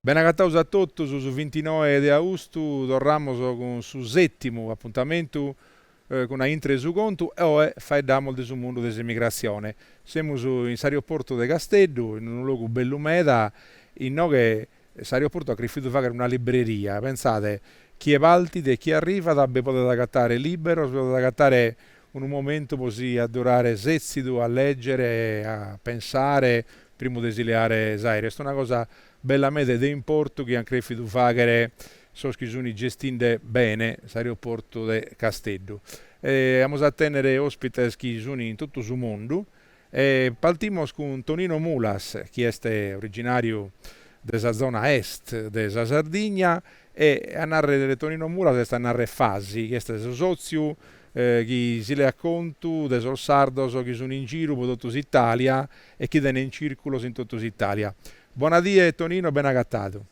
Bene agataus a totus, su vintinoe de austu torramus cun su sètimu apuntamentu cun a Intre su contu e oe faeddamus de su mundu de s'emigrassione. Semus in s'aeroportu de Casteddu, in unu logu bellu meda, inoghe s'aeroportu at crifidu faghere una libreria, pensade, chie partit e chie arrivat bi podet agatare liberos, bi podet agatare Unu momentu pro si addurare setzidu a lègere e a pensare primu de si leare s'aèreu est una cosa bella meda e de importu chi ant crèfidu fàghere sos chi suni gestinde bene s'aeroportu de Casteddu. E amus a tènnere òspites chi sunt in totu su mundu E partimos cun Tonino Mulas chi est originàriu de sa zona est de sa Sardigna e a narrer Tonino Mulas est a narrer Fasi chi est su sòtziu chi si leat contu de sos sardos chi sun in giru pro totu s'Itàlia e chi tenent circulos in totu s'Itàlia. Bona die Tonino, bene agatadu.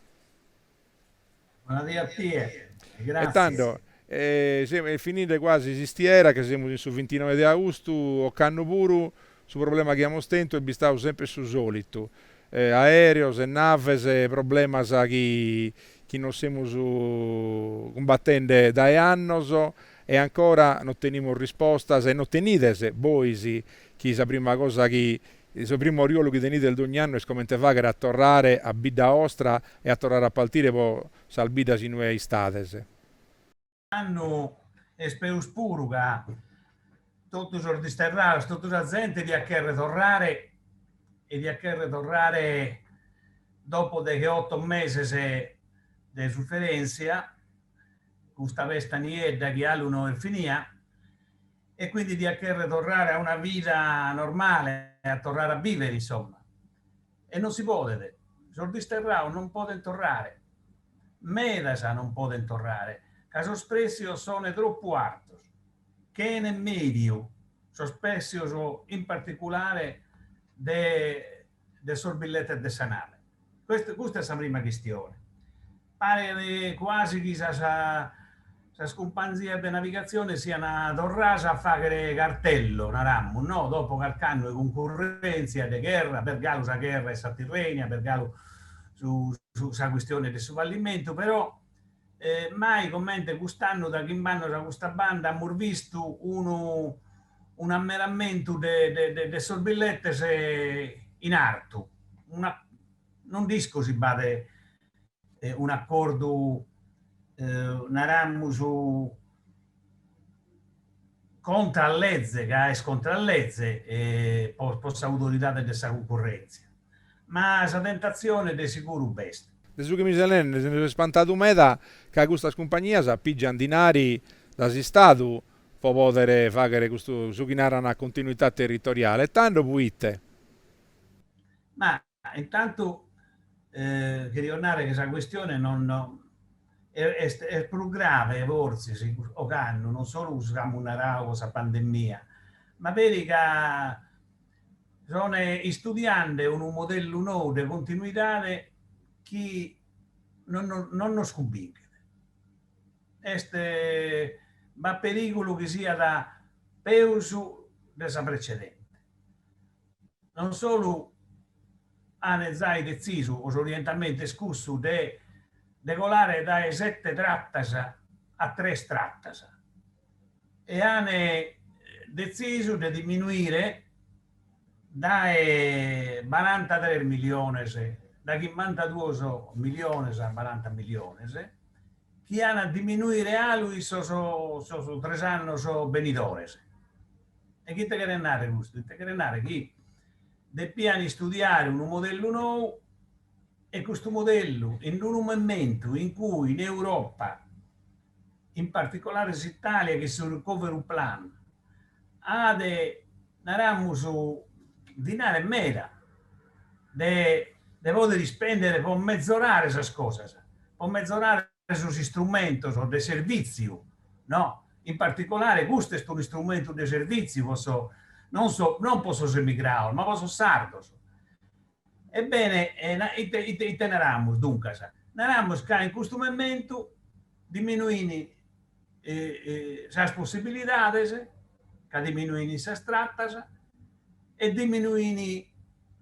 Bona die a tie e grazie. E tando, e fininde quasi s'istiera, ca semus in su vintinoe de austu, ocannu puru, su problema chi amus tentu est bistadu semper su solitu, aereos e naves, problemas chi che nos semus cumbattende dae annos e ancora non tenimus rispostas e non tenides bois chi sa prima cosa chi Su primu oriolu chi tenides dogn'annu est comente fagher a torrare a bidda ostra e a torrare a partire pro sas biddas in ue istades. Annu est peus puru ca totu sos disterrados, totu sa zente diat cherrer torrare e diat cherrer torrare dopo degheotto meses de suferentzia, custa pesta niedda chi alu no est finia. e quindi diat cherrer torrare a una vida normale, a torrare a bivere insomma, e non si podet, sos disterraos non podent torrare, medas non podent torrare, ca sos pretzios sone troppu artos, chene mediu, sos pretzios in particulare de de sos billetes de sa nave. Custa est sa prima chistione. Paret cuasi chi sas cumpanzias de navigatzione siant torradas a faghere cartello, naramus, no, dopo carch'annu 'e cuncurrentzia, de gherra, b'est galu sa gherra 'e sa Tirrenia, b'est galu sa chistione de su fallimentu, però, mai comente cust'annu dae chimb'annos a custa banda amus bistu unu un'aumentamentu de de sos billetes in artu, una non nd'isco si b'at un'acordu naramus contra a leze, ca est contra a leze po s'autoridade de sa cuncurrèntzia, ma sa tentatzione de seguru b'est. De su chi mi ses neende nde so ispantadu meda ca custas cumpagnias pìgiant dinari dae s'Istadu po pòdere fàghere custu, su chi naran, continuità territoriale, e tando, pro ite? Ma Intantu cherio nare chi sa cuestione non est prus grave fortzis ocannu, non solu cun su chi amus narau po sa pandemia, ma peri ca son istudiende unu modellu nou de continuidade chi non nos cumbinchet. Est, b'at perigulu chi siat peus de sa precedente. non solu ant zai detzisu o s'orientamentu est cussu de de colare dae sete tratas a tres tratas e ant detzisu de diminuire dae barantatres miliones, dae chimbantaduos miliones a baranta miliones chi an a diminuire alu in sos tres annos benidores. E ite cheret narrer custu? Ite cheret narrer chi depian istudiare unu modellu nou e custu modellu in unu mementu in cui in Europa, in particolare s'Italia chin su recovery plan at, naramus, dinare meda de de pòdere ispèndere po mezorare sas cosas, po mezorare sos istrumentos de servìtziu, no? In particolare custu est un'istrumentu de servìtziu po sos, non non po sos emigrados, ma po sos sardos. Ebbene, ite, ite naramus, duncas? Naramus ca in custu mementu diminuint sas possibilidades, ca diminuint sas tratas e diminuint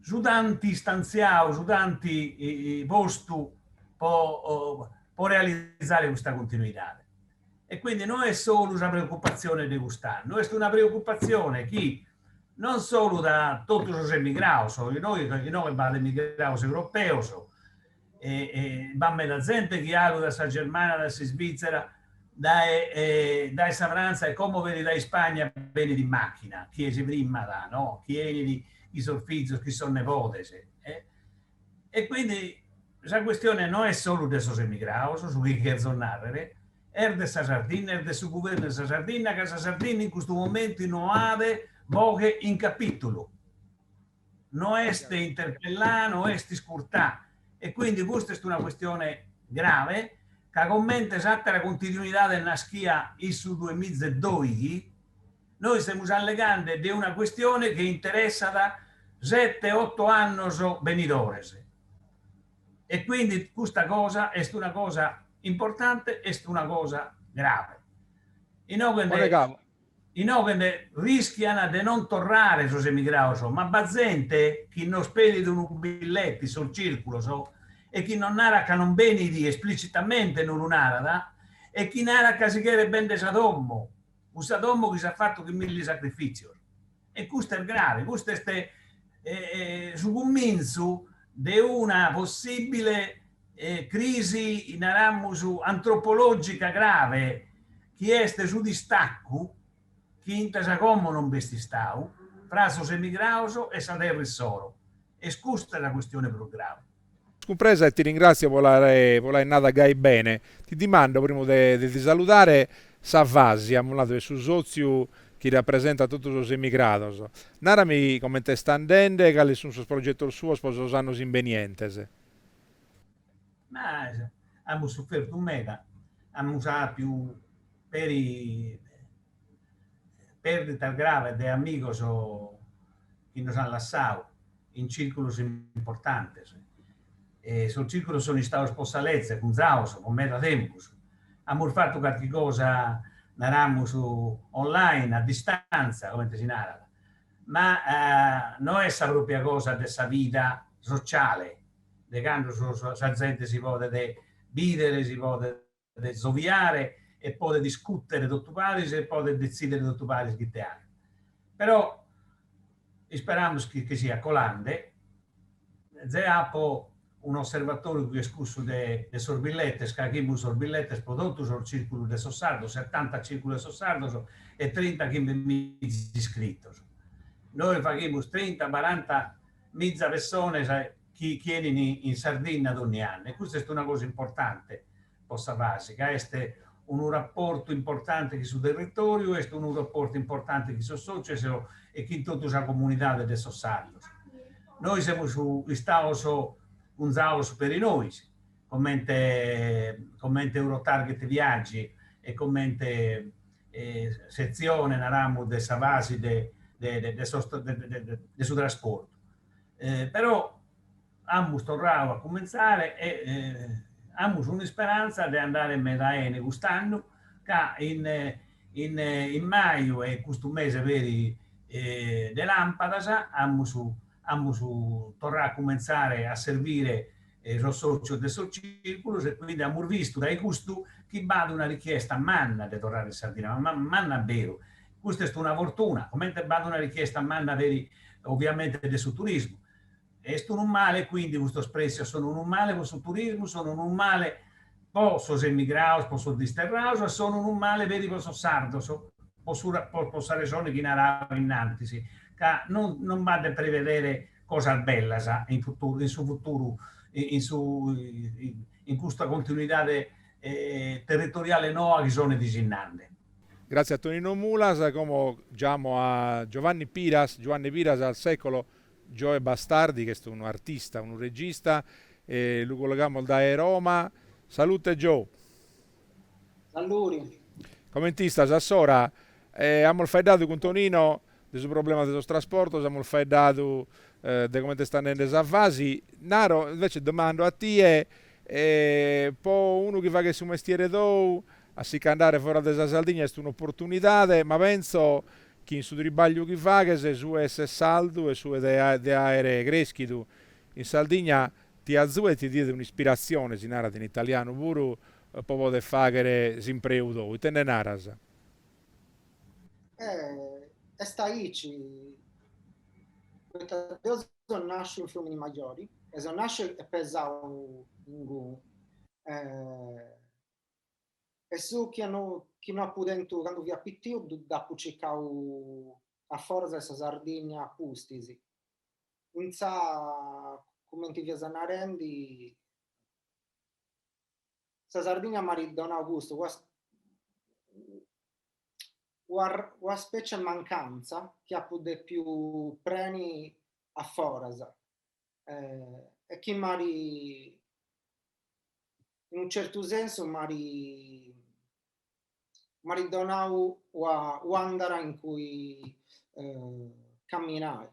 su tanti istantziau, su tanti postu po realizare custa continuidade. E quindi no est solu sa preoccupatzione de cust'annu, est una preoccupatzione chi non solu de totu sos emigrados, inoghe ca inoghe b'at emigrados europeos e e b'at meda zente chi alu da sa Germania, da s'Isvizzera, dae dae sa Frantza e como peri dae Ispagna benit in machina chie si frimmat, no, chie 'enit chin sos fizos, chin sos nebodes, e E quindi sa questione no est solu de sos emigrados, su chi cherzo narrer, est de sa Sardinna, est de su guvernu de sa Sardinna, ca sa Sardinna in custu momentu no at boghe in capitulu, no est interpellada, no est iscurtada. E quindi custa est una questione grave, ca comente s'atera continuidade naschia in su duemiza e doighi, Nois semus allegande de una cuestione chi interessat sete oto annos benidores e quindi custa cosa est una cosa importante, est una cosa grave, inoghe nde rischiat de non torrare sos emigrados, ma b'at zente chi nos pedit unu billete in sos circulos e chi non narat ca non benit, esplicitamente non lu narat, e chi narat ca si cheret bender sa domo. Cussa domo chi s'at fatu chin milli sacrifìtzios. E custu est grave, custu est su cumintzu de una possìbile crisi, naramus, antropològica grave, chi est su distacu, chi fintzas a como non b'est istadu, tra sos emigrados e sa terra issoro. Est custa sa custione prus grave. Cumpresa e ti ringrazio po l'aer nada gai bene. Ti dimando, primu de ti saludare, sa FASI, amus nadu, est su sotziu chi rapresentat totu sos emigrados. Narami comente est andende e cales sun sos progetos suos po sos annos imbenientes. Ma amus sufertu meda, amus apiu peri pèrditas graves de amigos chi nos ant lassadu in circulos importantes. Sos circulos sunt istados po sa leze cunzados po meda tempus, amus fatu carchi cosa, naramus, online, a distanza, comente si narat, ma no est sa pròpria cosa de sa vida sociale, de cando sa zente si podet bìdere, si podet podet zoviare e podet discùtere totu paris e podet detzìdere totu paris ite faghere. Però isperamus chi nche siat colende. Zeo apo un'osservatoriu chi est cussu de sos billetes, ca faghimus sos billetes pro totu sos circulos de sos sardos, setanta circulos de sos sardos e trinta chimbe miza iscritos. Nois faghimus trinta, baranta miza pessones chi chi 'enint in Sardinna dònnia annu, e custa est una cosa importante po sa FASI, ca est unu raportu importante chin su territòriu, est unu raportu importante chin sos sòcios e chin totu sa comunidade de sos sardos. Nois semus istados cunzados peri nois, comente comente Eurotarget Viaggi e comente setzione, naramus, de sa FASI de de de sos de su trasportu. Però amus torradu a cumentzare e amus un'isperanza de andare meda 'ene cust'annu, ca in maju e custu mese peri de lampadas amus torradu a cumentzare a servire e sos sòcios de sos cìrculos e quindi amus vistu dae custu chi b'at una richiesta manna de torrare in Sardigna, ma manna beru, custa est una fortuna, comente b'at una richiesta manna peri oviamente de su turismu, est unu male quindi custos prèssios sono unu male pro su turismu, sono unu male pro sos emigrados, pro sos disterrados e sono unu male peri pro sos sardos, pro sa resone chi naràio innantis, ca non non b'at de prevedere cosas bellas in futuru, in su futuru, in su in custa continuidade territoriale noa chi sone disinnande. Grazie a Tonino Mulas, como giamo a Giovanni Piras, Giuanne Piras al secolo, Joe Bastardi chi est unu artista, unu regista e lu collegamos dae Roma. Salute Joe. Sallori. Comente istas a s'ora? Amus faeddadu cun Tonino de su problema de sos trasportos, amus faeddadu de comente est andende sa FASI, naro, invece domando a tie, po unu chi faghet su mestiere tou, a si ch'andare foras de sa Sardigna est un'opportunidade, ma penso chi in su tribagliu chi faghes su 'e essere sardu e su 'e de aere creschidu in Sardigna ti azuet, ti diat un'ispiratzione, si narat in italianu, puru po poder fàghere s'impreu tou. Ite nde naras? Eh, est aici. Poita deo so nàsciu in Frumini-Majori e so nàsciu e pesau inguni. E su chi chi no apu tentu candu fia pitiu dd'apu circau a foras 'e sa Sardigna a pustis. Intzà, cumenti fias narendi, sa Sardigna m'at donau custu, una specie 'e mancantza chi apu depiu preni a foras e chi m'at, in unu certu sensu, m'at m'at donau una àndala in cui camminai.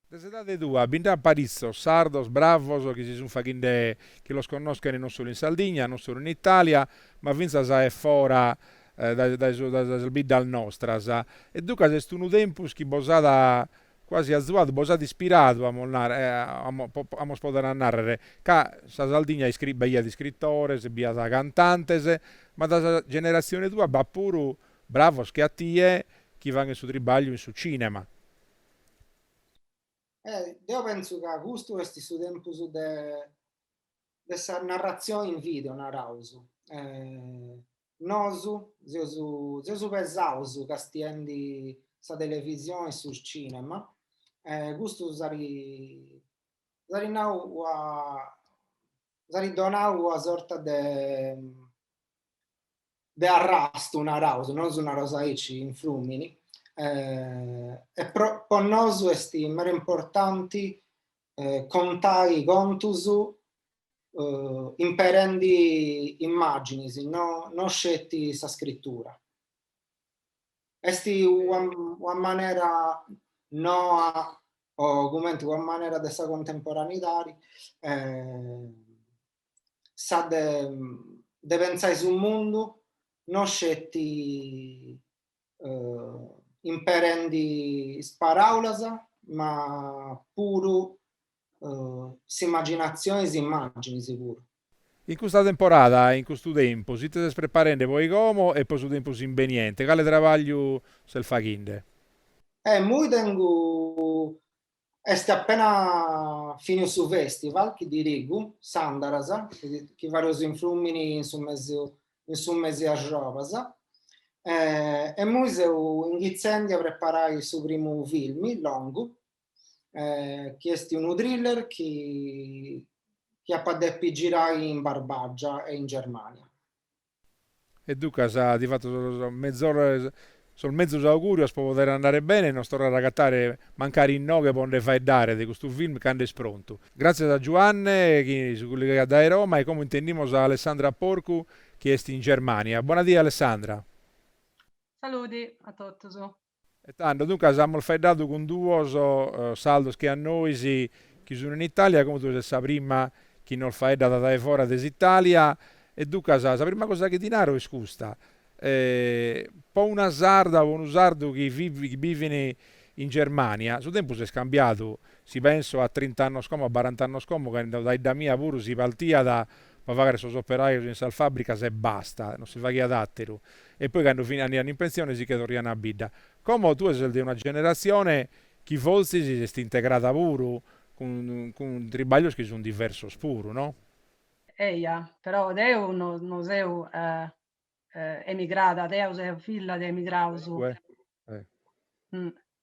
De s'edade tua bi nd'at paritzos sardos bravos chi si sunt faghende chi los connoschent non solu in Sardigna, non solu in Italia, ma fintzas a e fora dae sas biddas nostras e duncas est unu tempus chi bos at Quasi azuadu bos at ispiradu, amos narrer, eh, amos podere narrer, ca sa Sardigna b'aiat iscritores, b'iat cantantes, ma de sa generazione tua b'at puru bravos che a tie chi faghen su tribagliu in su cinema. Eh, deo penzu ca custu est su tempus de, de sa narrazione in video, naraus, eh, Nosu seus pesaus castiendi sa televisioni e su cinema e custu s'at nau, s'at donau una sorta de de arrastu naraus, nosu naraus aici in frumini, e po nosu est meda importanti eh, contai contus eh, imperendi immaginis, no, no sceti sa scrittura. Esti una, una manera noa, o cumenti una manera de sa contemporaneidadi, eh, sa de, de pensai su mundu no sceti imperendi is paràulas ma puru s'imaginatzioni e is imàginis puru. In custa temporada, in custu tempus, ite ses preparende po como e po su tempus imbeniente? Cale trabagliu ses faghende? Eh, immoi tengu Est appena finiu su festival chi dirigu, s'Andaras, chi fareus in Frùmini in su mesiu in su mesi 'e argiobas. E mui seu ingitzendi a preparai su primu filmi longu, chi est unu thriller chi chi apa depi girai in Barbagia e in Germania. E ducas ti fatto sos mezor sos mezus augurios pro poder andare bene e nos torrare a agatare mancari inoghe po nde faeddare de custu film cando est prontu. Gràtzias a Giuanne chi si cullegaiat dae Roma e como intendimos a Alessandra Porcu chi est in Germània. Bona die Alessandra. Salude a totus. E tando, duncas, amus faeddadu cun duos sardos chi a nois, chi sun in Itàlia, como tue ses sa prima chi nos faeddat dae fora de s'Itàlia, e duncas sa prima cosa chi ti naro est custa, po una sarda o po unu sardu chi chi bivin in Germania, su tempus est cambiadu, si penso a trint'annos como, a barant'annos como, cando dae idda mia puru si partiat po fagher sos operajos in sas fàbricas e basta, non si faghiat àteru, E poi cando andaian in pensione si che torraiana a bidda. Como tue ses de una generazione chi forsis s'est integrada puru cun cun tribaglios chi sun diversos puru no? Eia, però deu no no seu emigrada, deu seu filla de emigraus.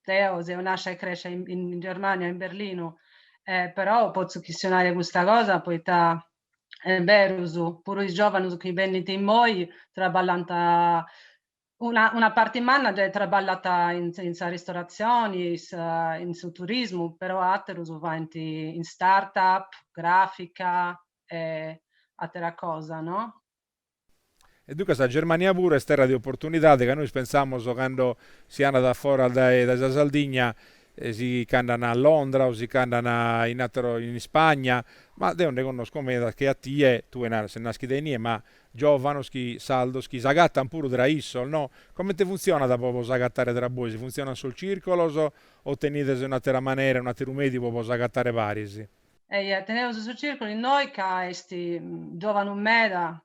deo seu nascia e crescia in in Germania in Berlinu e però potzu chistionai custa cosa poita est berus, puru is giovanus chi bennint immoi traballant una una parti manna gei traballat in in sa ristoratzioni e in su turismu però aterus faint in start up, grafica e atera cosa no. E duncas sa Germania puru est terra de oportunidade, ca nois pensamus cando si andat a foras dae sa Sardigna, si ch'andan a Londra o si ch'andan in ateros, in Ispagna, ma deo nde connosco medas chi a tie, tue naras ses naschida inie, ma giòvanos chi, sardos chi s'agatan puru tra issos, no? Comente funtzionat po bos agatare tra bois? Funtzionant sos circolos o tenides un'atera manera, un'ateru mèdiu po bos agatare paris? Eia, teneus su circolo innoi ca est giovanu meda,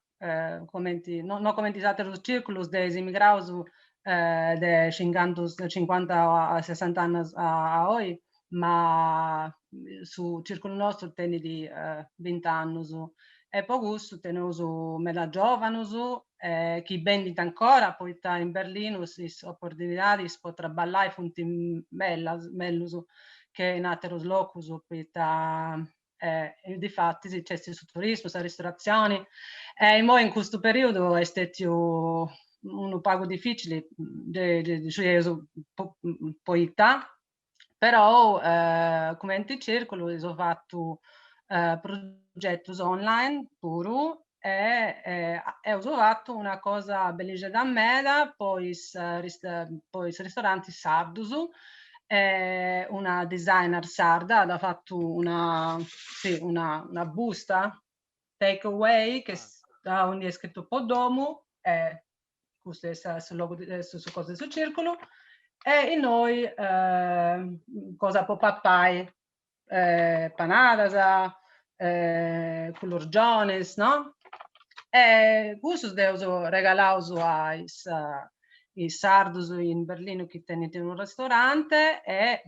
comenti, no comenti is aterus circulus de is immigraus de cincantus, de cincuanta a sessanta annus a oi, ma su circulu nostru tenit bint'annus e po cussu teneus meda giòvanus chi benint ancora poita in Berlinu is oportunidadis po traballai funt bellas, mellus che in aterus locus poita difatis nc'est su turismu, sa ristoratzioni e imoi in custu perìodu est stètiu unu pagu dificili, ddu scieus poita però cumenti circulu eus fatu progetus online puru e eus fatu una cosa bellixedda meda po is po is ristorantis sardus e una designer sarda at fatu una si una busta take away aundi est scritu po domu e custu est su logu de su su cosu de su circulu e innoi cosa po papai panadas culurgionis no e cussus dd'eus regalaus a is is sardus in Berlinu chi tenint unu restorante e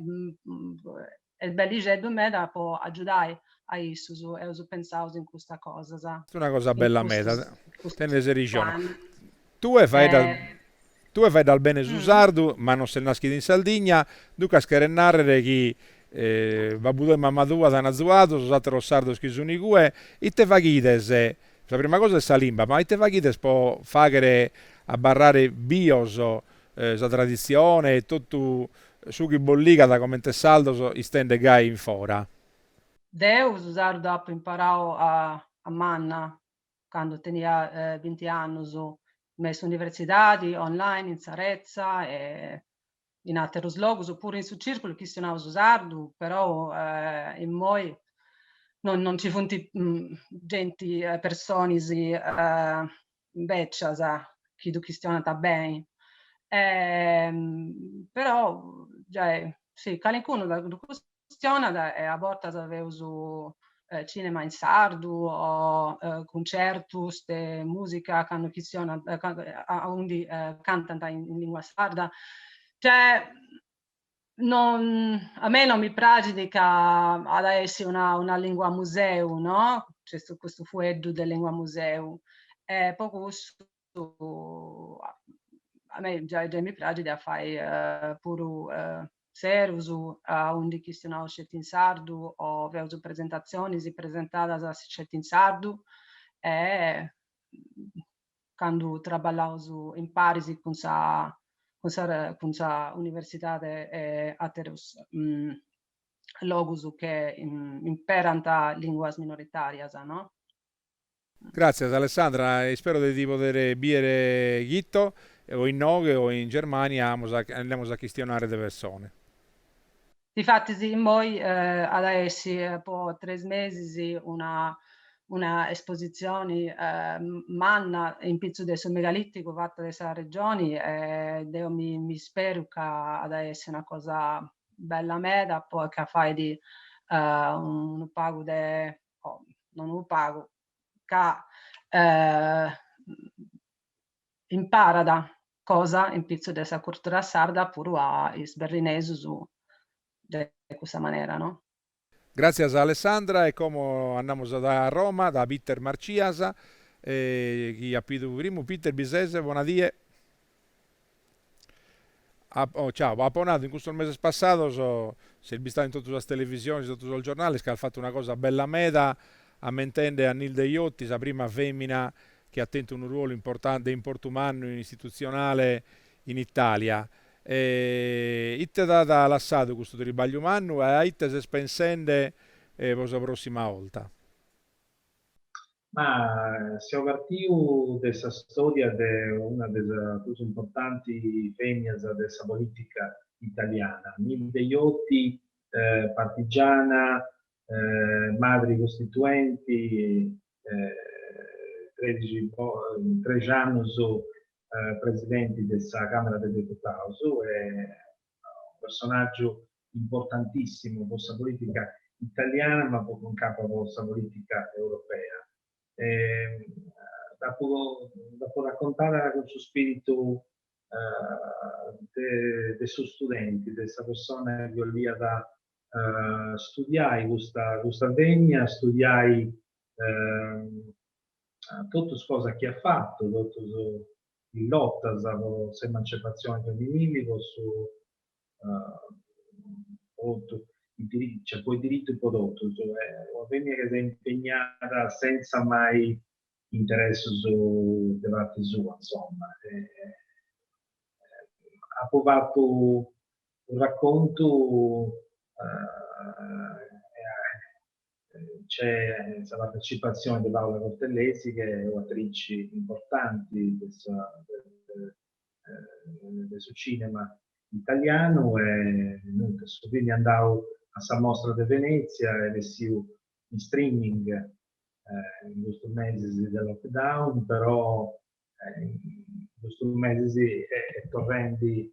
Est bellixeddu meda po agiudai a issus, eus pentzaus in custa cosas. Est una cosa bella meda, tenes rixone. Tue faeddas tue faeddas bene su sardu ma non ses naschida in Sardigna, duncas cheret narrer chi babbu tou e mamma tua t'an azuadu, sos atteros sardos chi sun igue, ite faghides, sa prima cosa est sa limba, ma ite faghides po fagher abbarrare bios sa traditzione e totu su chi bos ligat comente sardos istende gai in fora. Deu su sardu dd'apu imparau a manna candu tenia binti annus in s'universidadi, online, in sa retza e in aterus logus, puru in su circulu chistionaus sardu, perou immoi non ci funt genti, personis bècias, chi ddu chistionant beni, però giai, si, calincunu ddu chistionat e a bortas feus cinema in sardu o cuncertus de musica candu chistionant aundi cantant in lingua sarda, cioè a mei non mi praxit ca at a essi una lingua museu, no? Nc'est custu fueddu de lingua museu e po cussu a mei giai mi praxit a fai puru serus aundi chistionaus sceti in sardu o feus presentatzionis presentadas sceti in sardu e candu traballaus imparis cun sa cun sa cun sa universidadi e aterus logus chi imperant linguas minoritarias, no? Gràtzias Alessandra, ispero de ti poder bìdere chito o inoghe o in Germania, andamus a chistionare de persone. Difatis immoi at a essi po tres mesis una una espositzioni manna in pitzus de su megalìticu fata de sa Regioni e deu mi isperu ca at a essi una cosa bella meda po ca fait unu pagu de non unu pagu ca imparat cosa in pitzu de sa curtura sarda puru a is berrinesus de cussa manera no. Gràtzias Alessandra e como andamus a Roma da Peter Marcias chi at pidu primu Peter bi ses bona die oh ciao apo nadu in custos meses passados ses bistadu in totu sas televisiones in totu sos giornales ca as fatu una cosa bella meda ammentende a Nilde Iotti sa prima femina chi at tentu unu ruolu importante de importu mannu istitutzionale in Itàlia. E ite t'at lassadu custu tribagliu mannu e a ite ses pensende pro sa pròssima 'olta? Ma seu partiu de sa stòria de una de sas prus importanti fèmias de sa polìtica italiana, Nilde Iotti, partigiana, madri costituenti, trexi annus presidenti de sa Camera de Deputaus e unu personaggiu importantissimu po sa politica italiana ma anca po sa politica europea e dd'apu dd'apu raccontada cun su spiritu de su studenti de sa persona chi 'oliat studiai custa custa femina studiai totu is cosas chi at fatu totus is lotas po s'emancipatzioni feminili po su po is diritus po totus una femina chi s'est impegnada senza mai interessus de parti sua insoma apu fatu su raccontu c'est sa partecipatzione de Paula Cortellesi chi est un'atrici importanti de su cinema italianu e nudda, su filmu est andau a sa mostra de Venezia est essiu in streaming in custus mesis de lockdown però in custus mesis est torrendi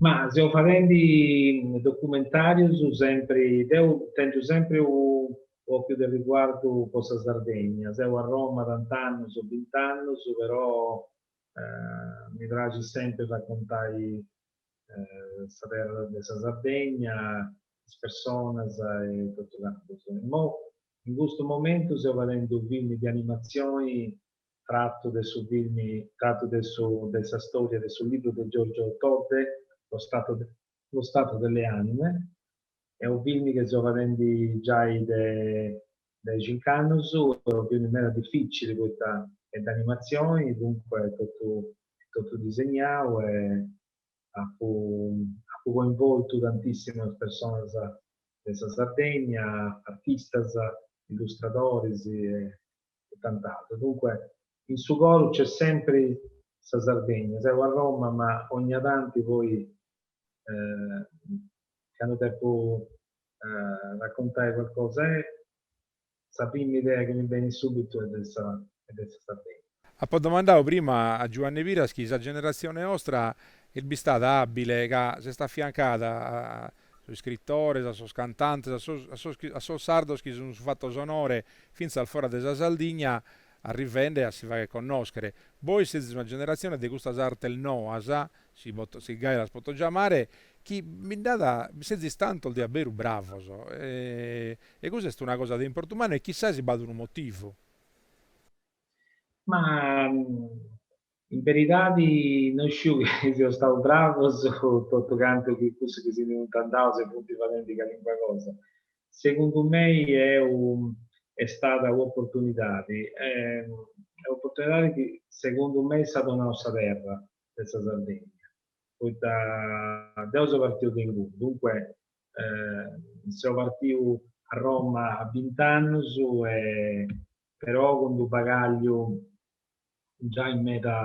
Ma seu fadendi documentàrios sempri, deu tengiu sempri un'òchiu de riguardu po sa Sardegna, seu a Roma tant'annus, o bint'annus, però mi praxit sempri racontai sa terra de sa Sardegna, is personas e totu cantu. Imoi in custu momentu seu fadendi unu film de animatzioni tratu de su filmi tratu de su de sa storia de su libru de Giorgio Todde Lo stato de Lo stato delle anime est unu filmi chi seu fadendi giai de de cinc'annus est unu filmi meda dificili poita est de animatzioni duncue est totu totu disegnau e apu apu coinvoltu tantissimas personas de sa Sardegna artistas illustradoris e e tant'atru. Dunque in su coru c'est sempri sa Sardegna. Seu a Roma ma ogna tanti poi candu depu raccontai qualcosa e sa prima idea chi mi benit subitu est de sa Sardegna. Apo domandau prima a Giuanni Piras chi sa generatzione nostra est bistada abile ca s'est affiancada sos iscritores, a sos cantantes, a sos, a sos chi, a sos sardos chi si sun fatto s'onore finzas fora de sa Sardigna arrivende a si fagher connoschere. Bois sezis una generazione de custas artes noas, si poto, si gai las poto giamare, chi bi nd'at, bi sezis tantos de a beru bravos e cussa est una cosa de importu mannu e chissasi b'at unu motivu. Ma In beridadi no isciu chi seus stau bravus o totu cantu chi cussu chi si ndi funt andaus e funt fadendi calincuna cosa. Segundu mei deu est stada u'oportunidadi, u'oportunidadi chi segundu mei s'at donau sa terra de sa Sardegna, poita deu seu partiu de inguni, duncue seu partiu a Roma a bint'annus e però cun d'u bagàgliu giai meda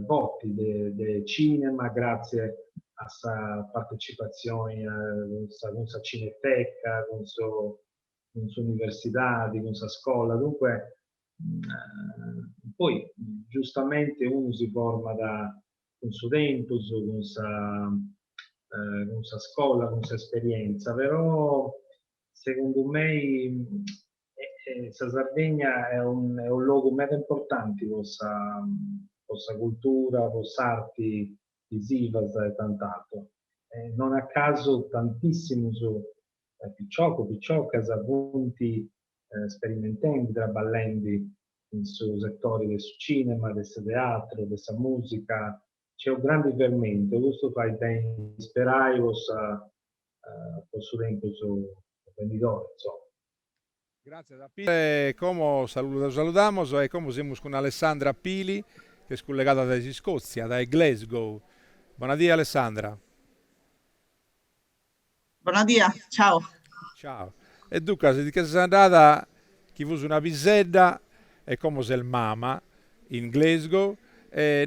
forti de cinema gràtzie a sa partecipatzioni cun sa cineteca, cun s'universidadi, cun sa scola, duncue poi giustamenti unu si format cun su tempus, cun sa cun sa scola, cun s'esperientza, però segundu mei Sa Sardegna est unu logu meda importanti po sa cultura, po s'arti visivas e tant'ateru. Non a casu tantissimus piciocus, piciocas funt sperimentendi, traballendi in su setori de su cinema, de su teatru, de sa musica. Nc'est unu grandi fermentu e custu fait beni isperai po su tempus benidori, insoma. Gràtzias a Peter e como lu saludamos e como semus cun Alessandra Pili chi est cullegada dae s'Iscòtzia, dae Glasgow. Bona die Alessandra. Bona die, ciao. Ciao. E duncas ti nche ses andada chi fus una pisedda e como ses mama in Glasgow,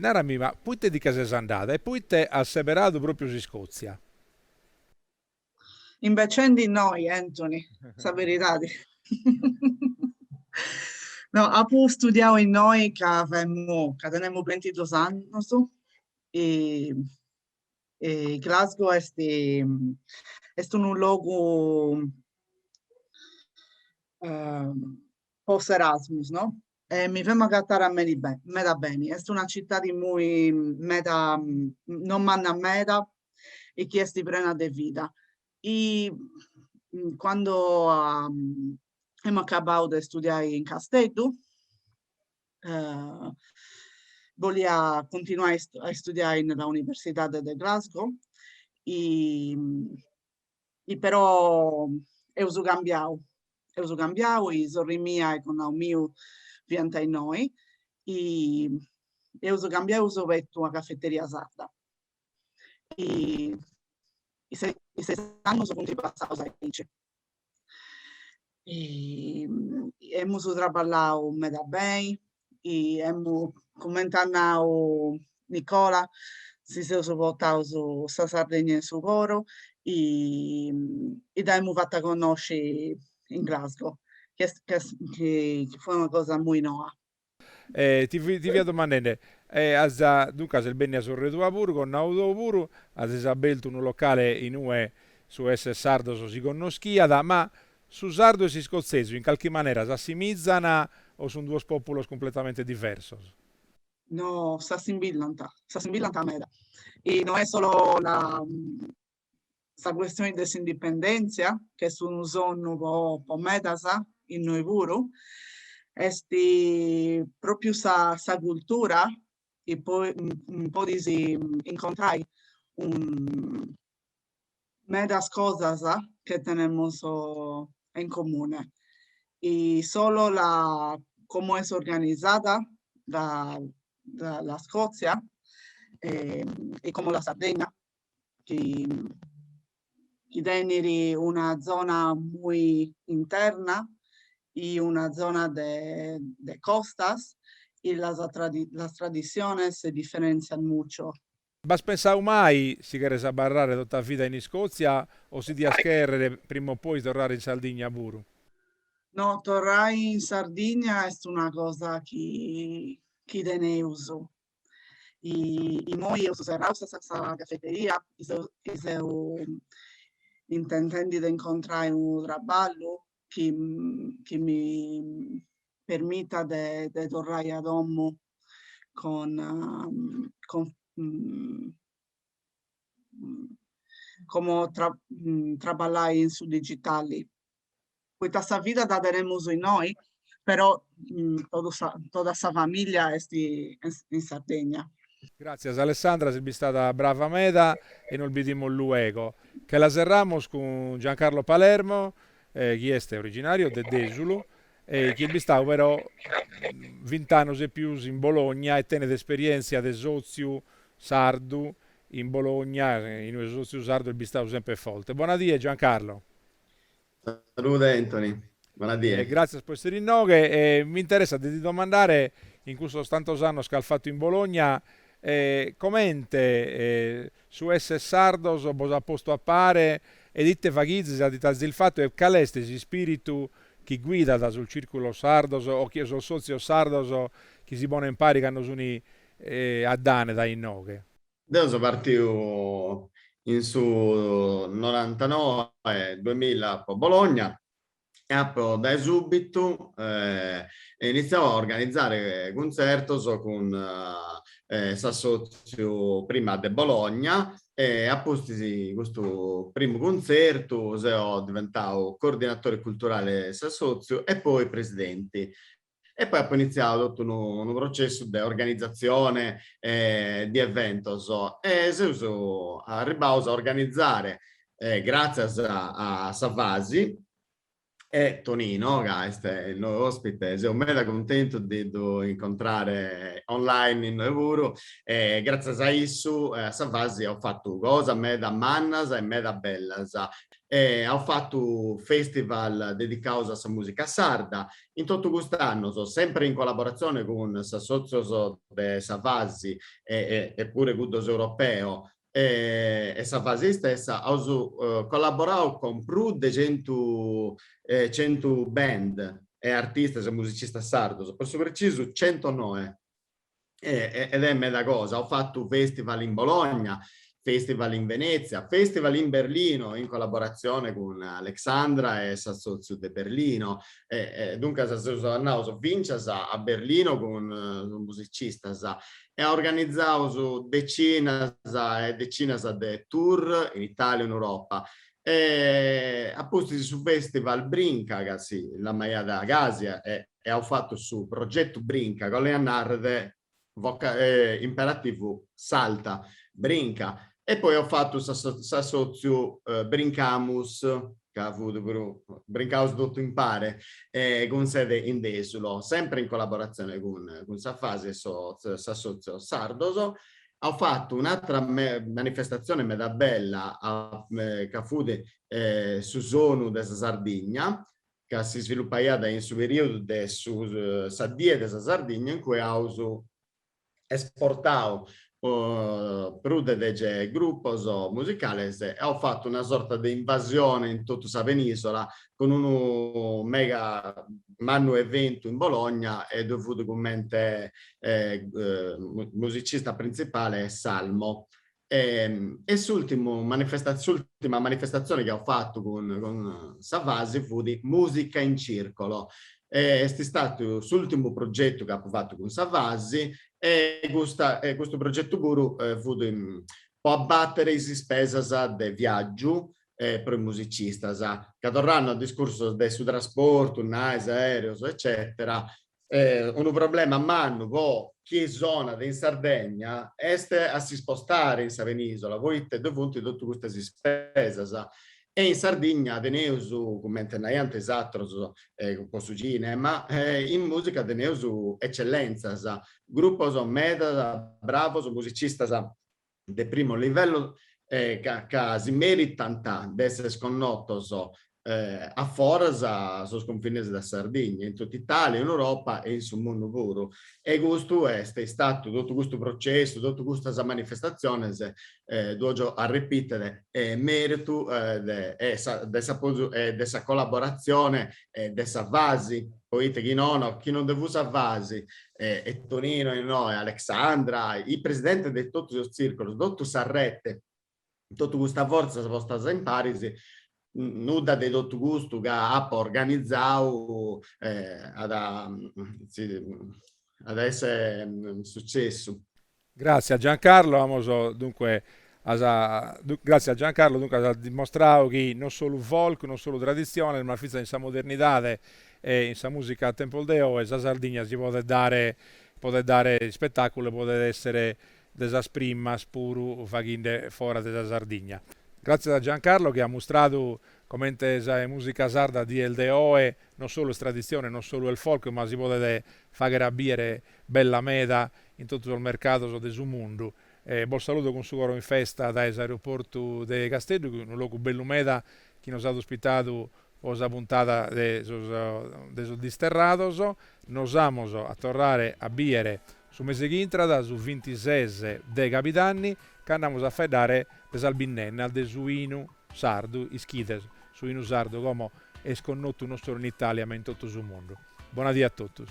narami ma, poita ti nche ses andada e poita as seberadu pròpriu s'Iscòtzia? Pentzendi innoi, Anthony, sa beridadi. No, apu studiau innoi ca femu, ca tenemu bentidus annus e e Glasgow est est unu logu po s'Erasmus, no? E mi femu agatare a me- meda beni. Est una citadi mui meda, non manna meda e chi est prena de vida. I quando emu acabau de studiai in Casteddu bolia continuai a istudiai in la Universidade de Glasgow i i però eus cambiau, eus cambiau i sorri mia e connau miu fiant innoi i eus cambiau eus obertu una cafeteria sarda i ses annus funt passaus aici. Emus traballau meda beni, e amu, cumenti at nau Nicola, si seus portaus sa Sardigna in su coro, dd'aimu fata connosci in Glasgow, chi est, chi est, chi fut una cosa mui noa. E ti fia domandende, as, duncas est bennia sorre tua puru, connau tou puru, azis abertu unu locale in ue su esser sardos si connoschiat, ma su sardu e s'iscotzesu in calchi manera s'assimizan o sun duos populos cumpletamente diversos? No, s'assimbillant, s'assimbillant meda. E no est solo la sa cuestioni de s'indipendèntzia, chi est unu sonnu po po medas, innoi puru, est pròpriu sa sa cultura i podis incontrai medas cosas che tenemus in comune. Solo la como est organizada la la la Scozia e como la Sardegna chi, chi tenit una zona mui interna e una zona de, de costas, e las las tradiziones se differenzian mucho. B'as pensadu mai si cheres abarrare totu sa vida in Iscòtzia o si dias chèrrere prima o poi torrare in Sardigna puru? No, torrai in Sardigna est una cosa chi, chi teneus I immoi eus serrau sa cafeteria, i seu intentendi de incontrai unu traballu chi mi permitat de torrai a domu cun como traballai in su digitali. poita sa vida dda tenemus innoi, però totu sa totu sa familia est in Sardegna. Gràtzias Alessandra, ses bistada brava meda e nos bidimus luego. Che la serramus cun Giancarlo Palermo, chi est originario de Dèsulu e chi est bistadu pro vint'annus e pius in Bologna e tenet esperièntzia de sòtziu sardu in Bologna, inue su sòtziu sardu est bistadu semper forte. Bona die Giancarlo. Salude Anthony, bona die. E gràtzias pro essere inoghe. E mi interessat de ti domandare, in custos tantos annos chi as fatu in Bologna, comente su esser sardos bos at postu a pare ed ite faghizis o ite azis fatu e cale est s'ispiritu chi guidat sos circulos sardos o o sos sotzios sardos chi si ponen paris cando sun addane dae inoghe? Deu so partiu in su norantanoe, duemilla po Bologna e apo dae subitu initziau a organizare cuntzertos cun s'assotziu prima de Bologna e a pustis in custu primu cuntzertu seu diventau coordinatore culturale de s'assotziu e poi presidenti e poi apo initziadu totu unu unu processu de organizatzione e de eventos e seus arribbaus a organizare gratzias a sa FASI e Tonino ca est innoi ospite, seu meda cuntentu de ddu incontrare online innoi puru, gratzias a issu e a sa FASI aus fatu cosas meda mannas e meda bellas. e aus fatu festival dedicaus a sa mùsica sarda. In totu cust'annus, sempri in collaboratzioni cun s'assòtzios de sa FASI e puru cuddos europeos e sa FASI istessa, aus collaborau cun prus de centu centu band e artistas e musicistas sardus, po su precisu centonoe. ed est meda cosa, aus fattu festival in Bologna, festival in Venezia, festival in Berlino in collaboratzione cun Alexandra e s'assotziu de Berlino, duncas seus andaus fincias a Berlino cun is musicistas e organizaus decinas e decinas de tour in Italia e in Europa. Apustis su festival Brinca, ca si lamaiat gasi e e aus fatu su progetu Brinca, ca 'olet a nàrrere voca imperativu salta, brinca, e poi aus fatu s'assòtziu Brincamus, ca fut puru brincaus totu impare, cun sede in Dèsulo, sempre in collaboratzione cun sa Fasi e sos assòtzios sardos. Aus fatu un'atra manifestatzione meda bella, ca fut su sonu de sa Sardigna, ca s'isvilupaiat in su perìodu de su sa Die de sa Sardigna in cue aus esportau prus de dege grupos musicales e aus fatu una sorta de invasione in totu sa penìsola cun unu mega mannu eventu in Bologna e ddoi fut cummente musicista printzipale Salmo E, e s'ultimu manifesta, s'ultima manifestatzione chi apu fatu cun, cun sa Fasi fut Musica in Circolo. E, est istatu s'ultimu progetu ca apu fatu cun sa Fasi e custa, e custu progetu puru fut po abbatere is ispesas de viaggiu pro is musicistas. Ca torrando a discursos de su trasportu, naes, aereos eccetera, unu problema mannu po chie sonat in Sardegna est a si spostare in sa penisola poite ddu funt totu custas ispesas e in Sardigna teneus, cumente naiant is atros po su cinema, in musica teneus eccellenzas, grupos medas bravos musicistas de primu livellu ca si meritant de esser connotos a foras sos cunfines de Sardigna, in totu Italia, in Europa e in su mundu puru. E custu est istatu, totu custu processu, totu custas manifestatziones, ddu 'ojo arrepìtere, mèritu de s'apozu e de sa collaboratzione de sa Fasi, poita chi nono, chi non ddue fut sa Fasi, e, e Tonino innoe, Alexandra, is presidentes de totus is tzircolos, totu sa rete, totu custas fortzas postas imparis, nudda de totu custu ca apu organizau at a esser sucessu. Gràtzias a Giancarlo, amos dunque as gràtzias a Giancarlo dunque as dimostradu chi non solu folk, non solu traditziones, ma fintzas in sa modernidade e in sa mùsica a tempos de oe sa Sardigna si podet podet dare ispetàculu e podet èssere de sas primas puru faghende foras de sa Sardigna. Gràtzias a Giancarlo chi at mustradu comente sa mùsica sarda a dies de oe non solu est traditzione, non solu est folk, ma si podet fàghere a bìdere bella meda in totu sos mercados de su mundu. Bos saludo cun su coro in festa dae s'aeroportu de Casteddu, chi est unu logu bellu meda chi nos at ospitadu po sa puntada de sos de sos disterrados. Nos amos a torrare a biere su mese chi intrat, su vintises de cabidanni, cando amos a faeddare de sas binnennas de su 'inu sardu, ischides, su 'inu sardu como est connotu non solu in Italia ma in totu su mundu. Bona die a totus.